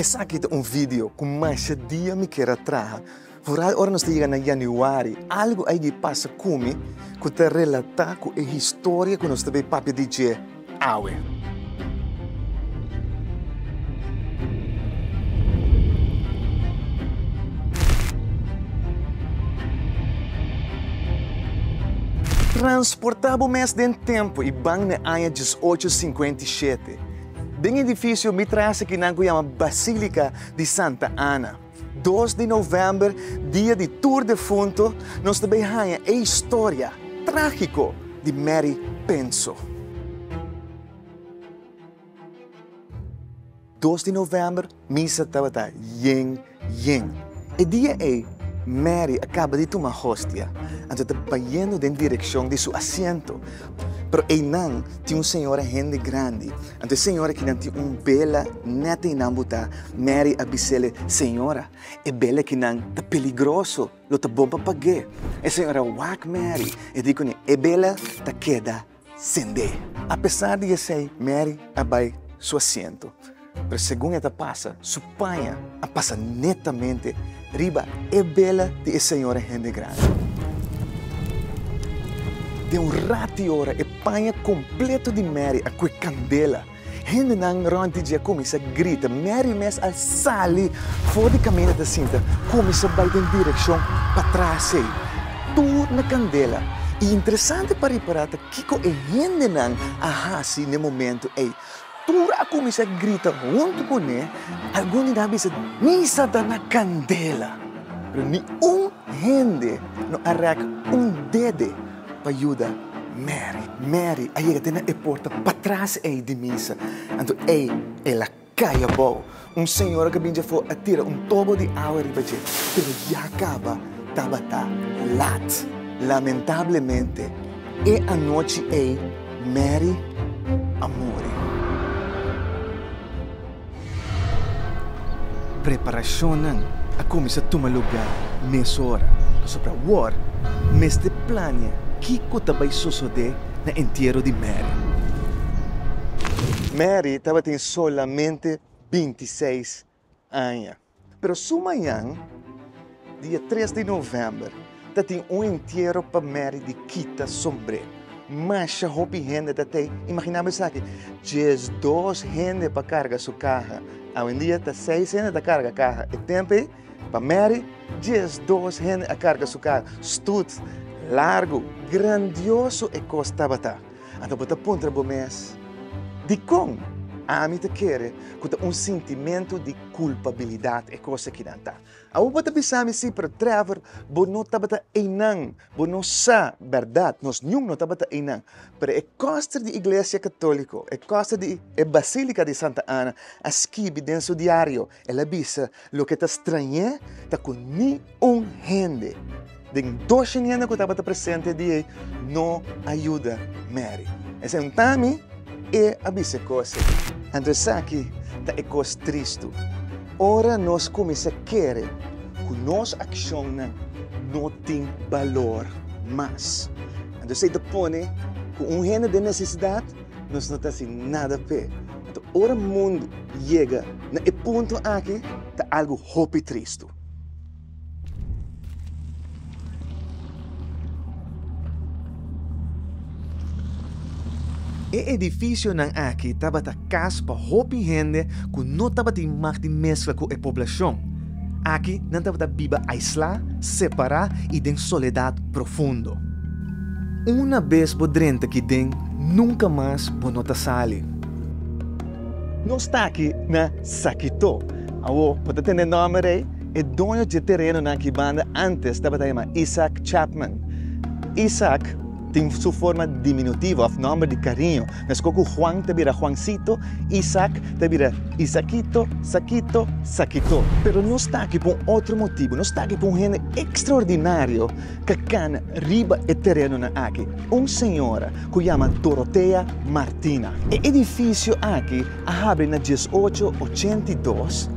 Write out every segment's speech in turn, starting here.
Esaki ta un video ku masha dia mi kier a traha, vooral ora nos ta yega na Januari. Algu a yega pasa ku mi ku ta relata ku e historia ku nos ta bay papia di dje. awe. Transportá bo mes den tempu i ban na aña djes ocho sinkuenta i shete, den edifisio mi trase kinan ku yama Basílika di Santa Ana. Dos di novèmber, dia di tur defuntu, nos ta bai haña e historia trágiko di Mary Penso. Dos di novèmber, misa tabata yen yen. E dia ei, Mary a kaba di tuma hostia, anto e ta bayendo den direkshon di su asiento, pero einan tin un señora hende grandi. Anto e señora kinan tin un bela nèt ei nan butá, Mary a bis'ele, Señora, e bela kinan ta peligroso, lo ta bon pa pag'é. E señora a wak Mary, e di kuné, E bela ta keda send'é. Apesar di esei, Mary a bai su asiento, pero segun e ta pasa, su. Spaña a pasa netamente riba e bela di e señora hende grandi. Den un rat di ora e paña kompleto di Mary a kue kandela. Hendenan rònti dje a kuminsá grita, Mary mes a sali for di kaminda ta sinta, kuminsá bai den direkshon patras ei. Tur na kandela. I interesante pa ripará ta kiko e hendenan a hasi n'e momentu ei. Tur a kuminsá grita huntu ku ne, algun di nan a bisa, Misa ta na kandela! Pero niun hende no a rèk un dede pa yuda Mary. Mary a yega te na e porta patras ei di misa, anto ei el a kai abou. Un señora cu a bin dje afó a tira un tobo di awa riba dje, pero ya caba tabata lat. Lamentablemente, e anochi ei Mary a muri. Preparacionnan a cuminsa tuma lugar mesora pasobra awor mester plania kico ta bay sosode na entiero di Mary. Mary tabatin Solamente binti seis aña. Pero su mañan, dia tres di november, ta tin un entiero pa Mary di kita sombre. Masha hopi hende ta t'ei imaginá bo esaki, djes dos hende pa karga su kaha. Awendia ta seis hende ta karga kaha. E tempu ei, pa Mary, djes dos hende a karga su kaha. Stoet, largu, grandioso e kos tabata. Anto bo ta puntra bo mes, Dikon ami ta kere ku ta un sintimentu di kulpabilidat e kos aki nan ta? Awor bo ta bisa mi si, pero Trevor, bo no tabata einan. Bo no sa bèrdat, nos niun no tabata einan. Pero e kòster di Iglesia Katóliko, e kòster di e Basílika di Santa Ana a skibi den su diario, El a bisa, Loke ta strañé ta ku ni un hende den doshen hende ku tabata presente e dia ei no a yuda Mary. Esei ta mi e a bisa e kos ei. Anto esaki ta e kos tristu. Ora nos kuminsá kere ku nos akshonnan no tin balor mas, anto esei ta pone ku un hende den nesesidat, Nos no ta haci nada p'e. Anto ora mundu yega na e punto aki ta algo hopi tristu. E edificionan aki tabata cas pa hopi hende cu no tabatin mag di mezcla cu e poblacion. Aki nan tabata biba aislá, separá i den soledat profundo. Una bes bo drenta ki den, nunka mas bo no ta sali. Nos ta aki na Sakitó. Awo bo ta tene nòmber ei? E doño dje terenonan aki banda ántes tabata yama Isaac Chapman. Isaac. Tin su forma diminutivo òf nòmber di kariño. Meskos ku Juan ta bira Juansito, Isak ta bira Isakito, Sakito, Sakito. Pero nos ta aki pa un otro motibu. Nos ta aki pa un hende ekstraordinario ta kana riba e terenonan aki. Un señora ku yama Dorotea Martina. E edifisio aki a habri na dies ocho ochenta i dos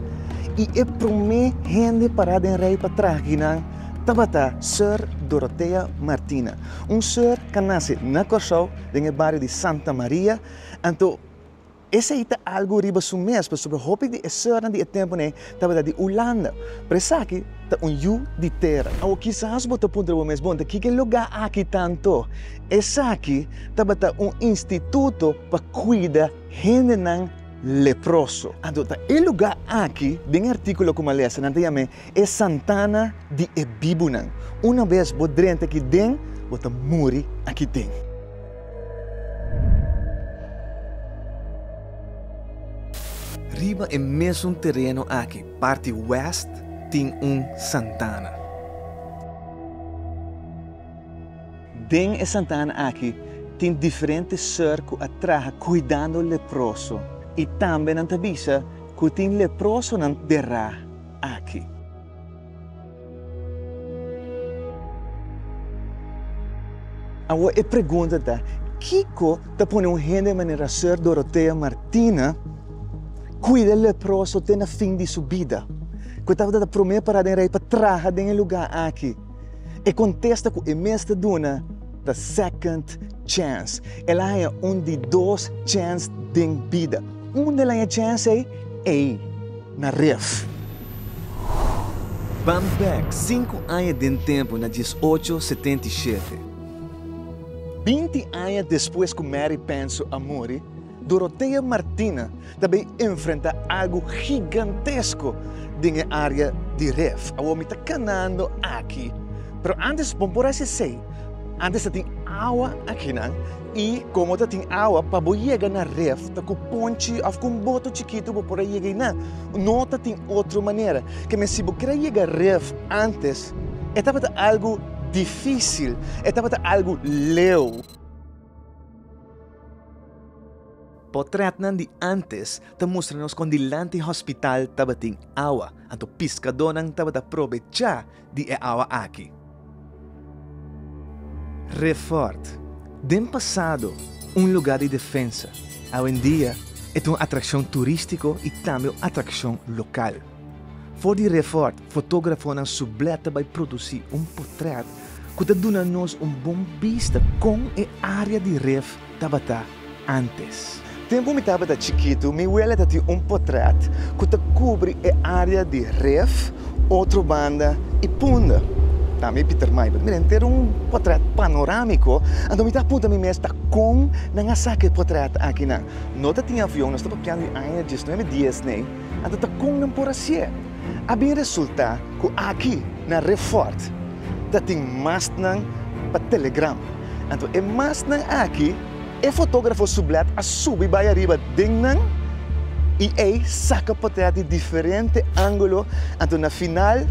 i e promé hende pará den rei pa traha kinan, tabata Sor Dorothea Martina. Un sor ca nace na Corsou den e bario di Santa Maria, anto esey ta algo riba su mes pasobra hopi di e sornan di e temponen tabata di Hulanda, pero esaki ta un yu di tera. Awo kisas bo ta puntra bo mes, Bon, ta kiko e lugá aki ta anto? Esaki tabata un instituto pa cuida hendenan leproso. Anto ta e lugá aki den e articulo cu Malesa nan ta yam'e E santana di e bibunan. Una bes bo drenta aki den, bo ta muri aki den. Riba e mesun tereno aki, parti west, tin un santana. Den e santana aki tin diferente ser ku a traha kuidando leproso i tambe nan ta bisa ku tin leprosonan derá. aki. Awo e pregunta ta, Kiko ta pone un hende manera Sor. Dorothea Martina kuida e leproso te na fin di su bida, ku e tabata ta promé pará den rei pa traha den e lugá aki? E kontesta ku e mes ta duna ta second chance. El a haña un di dos chance den bida. Unda el haña chance ei? Ei. na ref. Ban bèk sinku aña den tempu na dies ocho setenta i shete. Binti aña despues ku Mary Penso a muri, Dorothea Martina ta bai enfrentá algu gigantesko den e área di ref. Awor mi ta kanando aki, pero ántes, bon por hasi esei, ántes ta tin awa akinan. I komo ta tin awa pa bo yega na ref ta ku ponchi òf ku un boto chikitu bo por a yega einan. No ta tin otro manera. Kemia si bo kier a yega ref ántes e tabata algu difísil, e tabata algu leu. Potrètnan di ántes ta mustra nos kon dilanti hospital tabatin awa. Anto piskadónan tabata probechá di e awa aki. Refort, den pasado un lugar di defensa, awendia e ta un atrakshon turístiko i tambe un atrakshon lokal. For di Refort, fotógrafonan su blè ta bai produsí un potrèt ku ta duna nos un bon bista kon e área di Ref. Tabata antes. Tempu mi tabata chikitu, mi wele ta tin un potrèt ku ta kubri e área di ref, otro banda i punda. Ta mi Pieter Meijer, mi ta entera un potrèt panorámiko, anto mi ta punta mi mes ta kon nan a saka e potrèt akinan? No ta tin avion, no sta papiando di aña desnuebe diesnei, anto ta kon nan por hasié? a bin resultá ku aki na Refort ta tin masnan pa Telegram. Anto e masnan aki e fotógrafo su blèt a subi bai ariba den nan i ei saka potrèt di diferente ángulo anto na final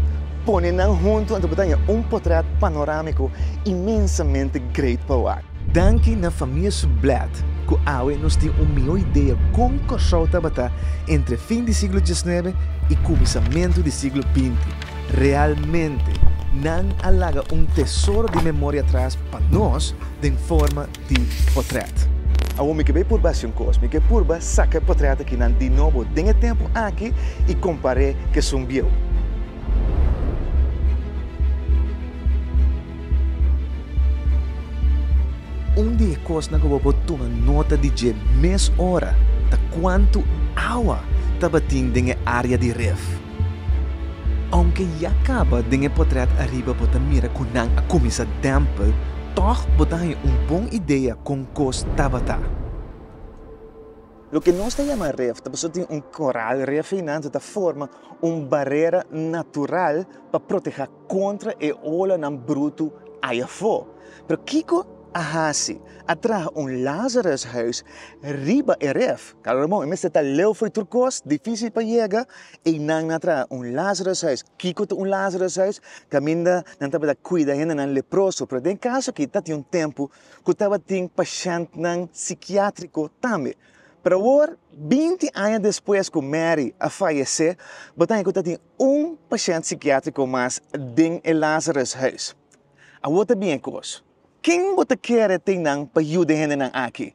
pone nan huntu anto bo ta haña un potrèt panorámiko inmensamente great pa wak. Danki na Famia Sublett ku awe nos tin un mihó idea kon Kòrsou tabata entre fin di siglo diesnuebe i kuminsamentu di siglo binti. Realmente nan a laga un tesoro di memoria atras pa nos den forma di potrèt. Awor mi ke bai purba hasi un kos. Mi ke purba saka e potrèt akinan di nobo den e tempu aki i kompar'é ku esun bieu. Un di e kosnan ku bo por tuma nota di dje mes ora ta kuantu awa tabatin den e área di ref. Ounke ya kaba den e potrèt ariba bo ta mira ku nan a kuminsá dèmpel, tòg bo ta haña un bon idea kon kos tabata. Loke nos ta yama ref ta pasobra tin un koral. Ref ei nan ta forma un barera natural pa protehá kontra e olanan brutu ai afó. Pero kiko a hasi? A traha un Lazarushuis riba e ref. Kalo remon, e mester ta leu fo'i tur kos, difísil pa yega, einan nan a traha un Lazarushuis. Kiko ta un Lazarushuis? Kaminda nan tabata kuida hendenan leproso. Pero den e kaso akí tabatin un tempu ku tabatin pashèntnan sikiátriko tambe. Pero awor, binti aña despues ku Mary a fayesé, bo ta haña ku tabatin Un pashènt sikiátriko mas den e Lazarushuis. Awor ta bien kos. Ken bo ta kere t'e nan pa yuda e hendenan aki?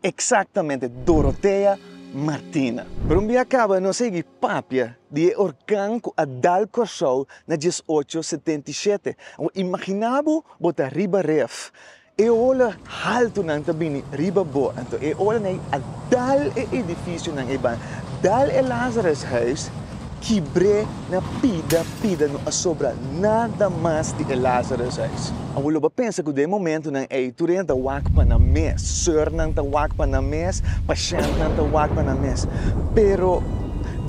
Eksaktamente, Dorotea Martina. Pero un bia kaba nos a higi papia di e orkan ku a dal Kòrsou na diesocho setenta i shete. Awor, imaginá bo bo ta riba ref E ola haltunan ta bini riba bo, anto e olanan a dal e edificionan eibanan, dal e Lazarushuis, kibr'é na pida pida, no a sobra nada mas di e Lazarushuis. Awor lo bo a pensa cu den e momentonan ei, tur hende ta wak pa nan mes, seurnan ta wak pa nan mes, pashentnan ta wak pa nan mes, pero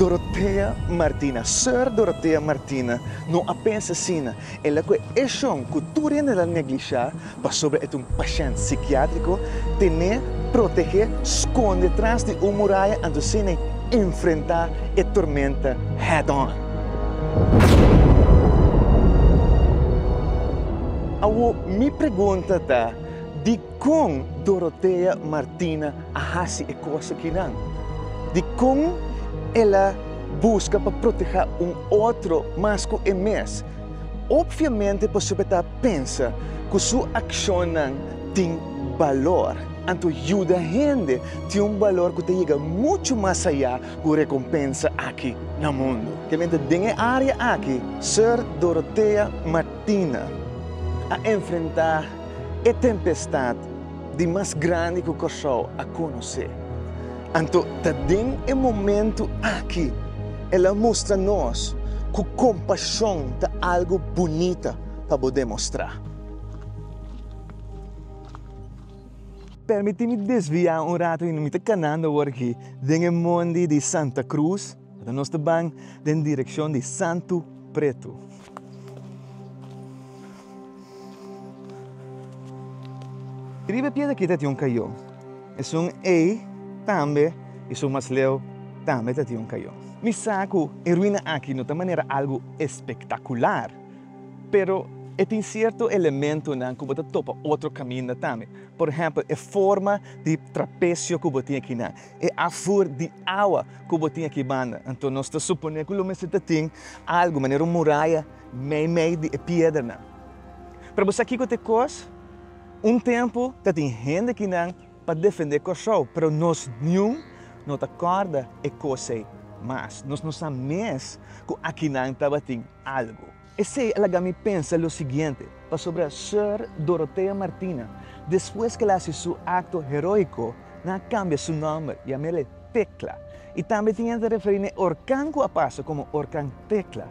Dorothea Martina, seur Dorothea Martina, no a pensa asina, El a kue e shon ku tur hende el a neglishá pasobra e ta un pashènt sikiátriko, ten'é protegé skonde tras di un muraya anto sin e enfrentá e tormenta head on. Awor mi pregunta ta, di. Kon Dorothea Martina a hasi e kos akinan? Dikon el a buska pa protehá un otro mas ku e mes? Opviamente pasobra e ta pensa ku su akshonnan tin balor. Anto yuda hende tin un balor ku ta yega muchu mas ayá ku rekompensa aki na mundu. Tamenti den e área aki Sor Dorothea Martina a enfrentá. e tempestad di mas grandi cu Corsou a conoce. Anto ta den e momento aki el a mustra nos cu compasion ta algo bunita pa bo demostra. Permiti mi desvia un rato y mi ta canando awor aki den e mondi di Santa Cruz. Ora nos ta ban den direkshon di Santu Pretu. Riba e piedra kita tin un kayon. Esun ei tambe i su masleu tambe ta tin un kayon. Mi sa ku e ruina aki no ta manera algu espektakular, pero e tin sierto elementonan ku bo ta topa otro kaminda tambe. Por ehèmpel e forma di trapesio ku bo tin aki nan. E afur di awa ku bo tin aki banda. Anto nos ta suponé ku lo mester tin algu manera un muraya meimei di e piedernan. Pero bo sa kiko ta e kos? Un tempu ta tin hende kinan pa defendé Kòrsou, pero nos niun no ta kòrda e kos ei mas. Nos no sa mes ku akinan tabatin algu. Esei a laga mi pensa lo siguiente pasobra Sor. Dorothea Martina, despues ku el a hasi su akto heroiko, nan a kambia su nòmber i a mira e Tekla. I tambe tin hende a referí na e orkan ku a pasa komo Orkan Tekla.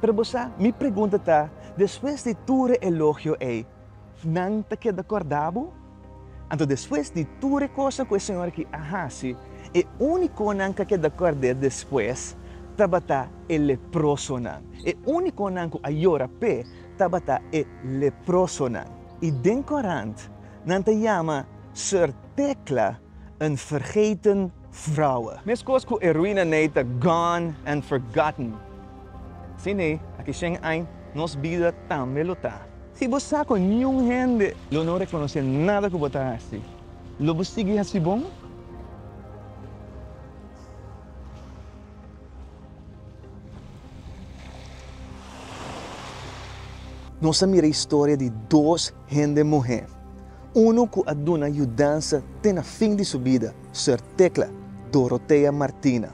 Pero bo sa, mi pregunta ta, despues di tur e elogio ei, Nan ta keda kòrda bo? Anto despues di tur e kosnan ku e señor aki a hasi, e úniko nan ku a keda kòrd'é despues tabata e leprosonan. E úniko nan ku a yora p'é tabata e leprosonan. I den korant nan ta yama Sor Tecla een vergeten Vrouwe. Meskos ku e ruina nei ta gone and forgotten. Si nei, aki shen ain, nos bida tambe lo ta. Si bo sa ku niun hende lo no rekonosé nada ku bo ta hasi, lo bo sigui hasi bon? Nos a mira historia di dos Hende muhé. Unu ku a duna yudansa te na fin di su bida, Sor Tecla Dorothea Martina.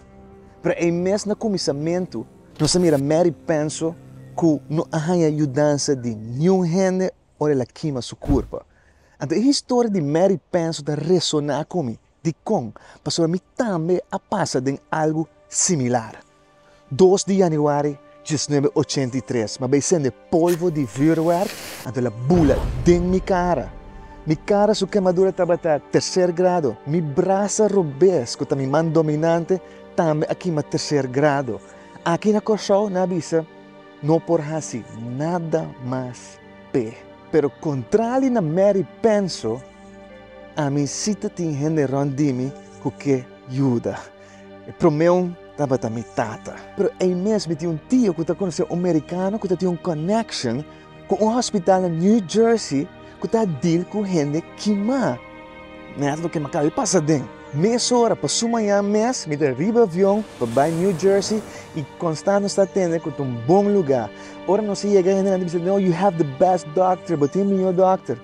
Pero ei mes na kuminsamentu, nos a mira Mary Penso ku no a haña yudansa di niun hende ora el a kima su kurpa. Anto e historia di Mary Penso ta resoná ku mi. Dikon? Pasobra mi tambe a pasa den algu similar. Dos di yanüari diesnuebe ochenta i tres, mi a bai sende polvo di vüerwerk anto la bula den mi kara. Mi kara su kemadura tabata terser grado. Mi brasa robes, ku ta mi man dominante, tambe a kima terser grado. Aki na Kòrsou nan a bisa. No por hasi nada mas p'e. Pero kontrali na Mary penso, ami si ta tin hende rònt di mi ku ke yuda. E promeun tabata mi tata. Pero ei mes mi tin un tio ku ta konosé un merikano ku ta tin un kònèkshon ku un hòspital na New Jersey. ku ta dil ku hende kimá. Nèt loke mi a kaba di pasa den mesora pa su mañan mes mi ta riba avion pa bai New Jersey i konstant nos ta atende ku ta un bon lugá. Ora nos a yega hendenan ta bisa, you have the best doctor, bo tin mihó dòkter.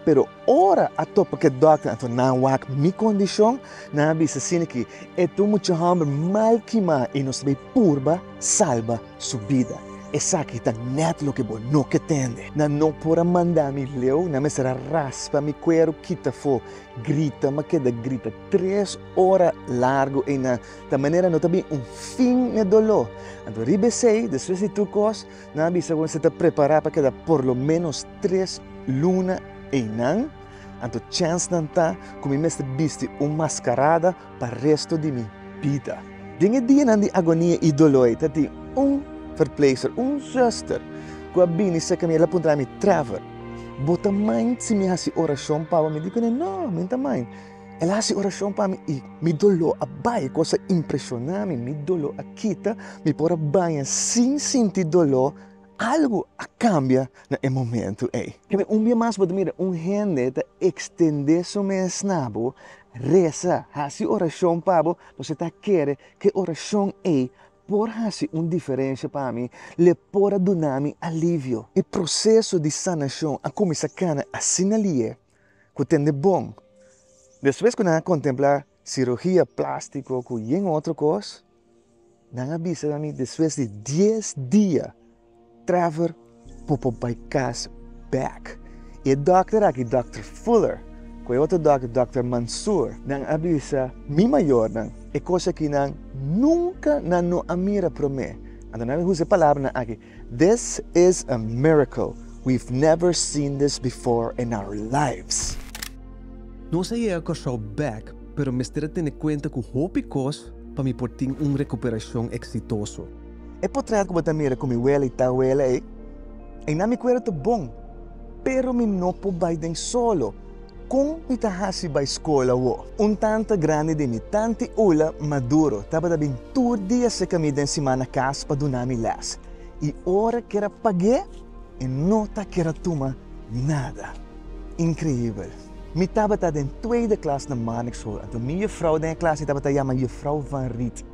Pero ora a topa ku e dòkter anto nan wak mi kondishon, nan a bisa, Siniki, e ta un mucha hòmber mal kimá i nos ta bai purba salba. Su bida. Esaki ta nèt loke bo no ke tende. Nan no por a manda mi leu, nan mester a raspa mi kueru kita fo, grita ma keda grita tres ora largu eyna ta manera no ta bin un fin n'e doló. Anto riba esei, despues di tur kos, nan a bisa ku mester ta prepará pa keda por lo ménos tres luna eynan. Anto chènsnan ta ku mi mester bisti un maskarada pa resto di mi bida. Den e dianan di agonia i doló ei ta tin un verpleegster, un zuster, ku a bini serka mi, el a puntra mi, Trevor, bo ta mind si mi hasi orashon pa bo? Mi di kuné, No, mi no ta mind. El a hasi orashon pa mi i mi doló a bai, e kos a impreshoná mi, mi doló a kita, mi por a baña sin sinti doló, algu a kambia na e momentu ei. Ken un bia mas bo ta mira un hende ta ekstendé su mes na bo Resa, hasi orashon pa bo, nos e ta kere ku e orashon ei por hasi un diferensha pa mi, l'e por a duna mi alivio. E proseso di sanashon a kuminsá kana asina li'é ku tende bon. Despues ku nan a kontemplá sirugia plástiko ku yen otro kos. Nan a bisa na mi despues di dies dia Trevor por por bai cas back. Y e dokter aki Dokter Fuller cu e otro dokter Dokter Mansoor nan a bisa mi mayornan e cosnan ki nan nunca nan no a mira prome. Anto nan a bisa e palabranan aki This is a miracle, we've never seen this before in our lives. Nos a yega Kòrsou bèk, pero mester a tene kuenta ku hopi kos pa mi por tin un rekuperashon eksitoso. E potrèt ku bo ta mira ku mi wele i tawele ei, ei na mi kuerda ta bon, pero mi no por bai den solo. Kon mi ta hasi bai skol awo? Un tanta grandi di mi, tanti Ula Maduro, tabata bin tur dia seka mi den simana kas pa duna mi lès. I ora kier a pag'é, e no ta kier a tuma nada. Inkreibel! Mi tabata den tueide klas na Marnix School, anto mi jufrou den e klas ei tabata yama Jufrou Van Riet.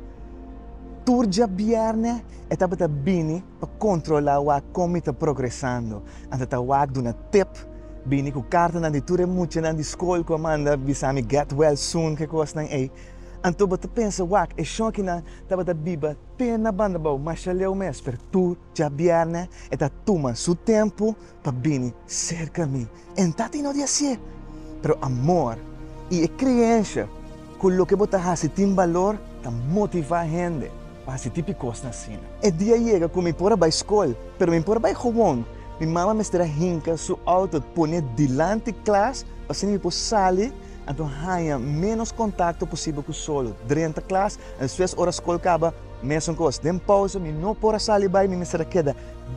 Tur djabièrnè e tabata bini Pa kontrolá wak kon mi ta progresando, anto ta wak duna tip, bini ku kartanan di tur e muchanan di skol ku a manda bisa mi get well soon ke kosnan ei. Anto bo ta pensa wak e shòkinan tabata biba te na bandabou mashaleu mes, pero tur djabièrnè e ta tuma su tempu. pa bini serka mi. E no ta tin no di hasié, pero amor i e kreensha ku loke bo ta hasi tin balor ta motivá hende pa hasi tipi kosnan asina. E dia yega ku mi por a bai skol, pero mi por a bai howon. Mi mama mester a hinka su outo pone dilanti klas pa asina mi por sali, anto haña ménos kontakto posibel ku solo drenta klas. Despues ora skol kaba, mesun kos. Den pousa mi no por a sali bai, mi mester a keda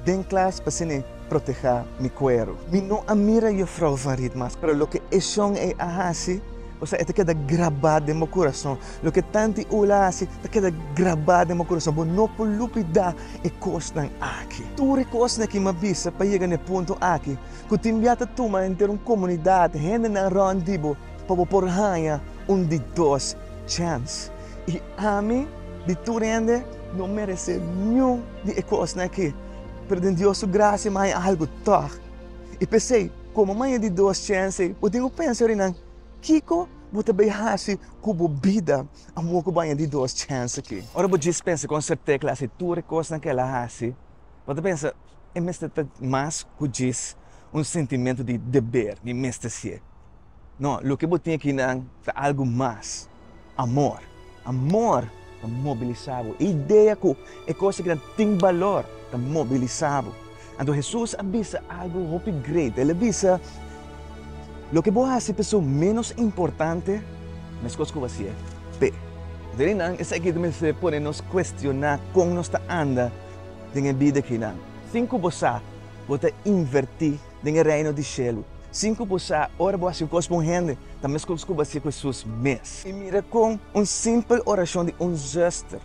den klas pa sini protehá mi kueru. Mi no a mira yo frou van Riet mas, pero loke e shon ei a hasi, osea e ta keda grabá den bo kurason. Loke Tanti Ula a hasi ta keda grabá den bo kurason. Bo no por lupidá e kosnan aki. Tur e kosnan aki mi a bisa pa yega na e punto aki, ku tin bia ta tuma henter un komunidat, hendenan rònt di bo, pa bo por haña un di dos chèns. I ami di tur hende no meresé niun di e kosnan akí, pero den Dios su grasia mi a haña algu tòg. I p'esei, komo mi a haña di dos chens ei, bo tin ku pensa yori nan, Kiko bo ta bai hasi ku bo bida amor ku bo a haña di dos chens akí? Ora bo djis pensa kon Septé klas di tur e kosnan ku el a hasi, bo ta pensa, E mester ta mas ku djis un sintimentu di deber, mi mester sié. No, loke bo tin aki nan ta algu mas, amor. Amor ta mobilisá bo. E idea ku e kos aki nan tin balor ta mobilisá bo. Anto Hesus a bisa algu hopi great. El a bisa, Loke bo hasi pa su ménos importante, meskos ku bo hasi e p'e. Anto di nan esaki ta mester pone nos kuestioná kon nos ta anda den e bida aki nan. Sin ku bo sa, bo ta invertí. den e Reino di Shelu. Sin ku bo sa, ora bo hasi un kos pa un hende, ta meskos ku bo hasié ku Hesus mes. I mira kon un simpel orashon di un zuster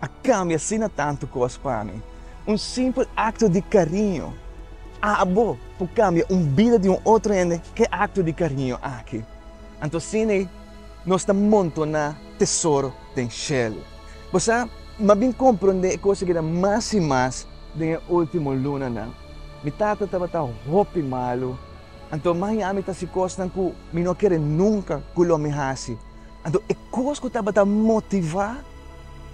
a kambia asina tantu kos pa mi. Un simpel akto di kariño abo por kambia un bida di un otro hende. Ke akto di kariño aki? Anto asina nos ta montoná tesoro. den shelu. Bo sa, mi a bin komprondé e kos akeda mas i mas den e último lunanan. Mi tata tabata hopi malu, anto maña mi ta hasi kosnan ku mi no kere nunka ku lo mi hasi. Anto e kos ku tabata motivá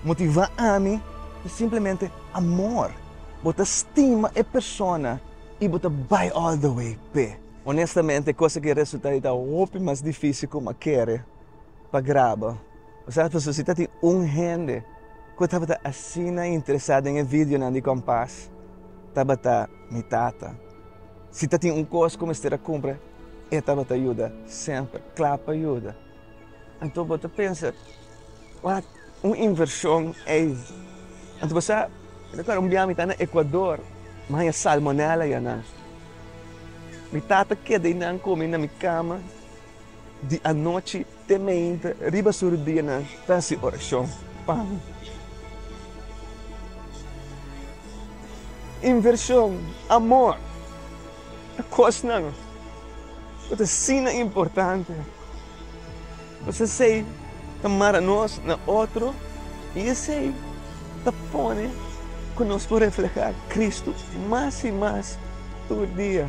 motivá ami ta simplemente amor. Bo ta stima e persona i bo ta bai all the way p'e. Onestamente, e kos aki a resultá di ta hopi mas difísil ku mi a kere. pa graba. Bo sa pasobra si ta tin un hende ku tabata asina interesá den e videonan di Kompas, tabata mi tata. Si ta tin un kos ku mester a kumpra, e tabata yuda semper, kla pa yuda. Anto bo ta pensa, Wak, un invershon ei. Anto bo sa, mi ta kòrda un biaha mi ta na Ekuador, mi haña salmonella ya nan. Mi tata keda einan ku mi na mi kama. Di anochi te mainta riba su rudianan ta hasi orashon pa mi. Invershon, amor, ta kosnan ku ta asina importante. Nos esei ta mara nos na otro i esei ta pone ku nos por reflehá Kristu mas i mas tur dia.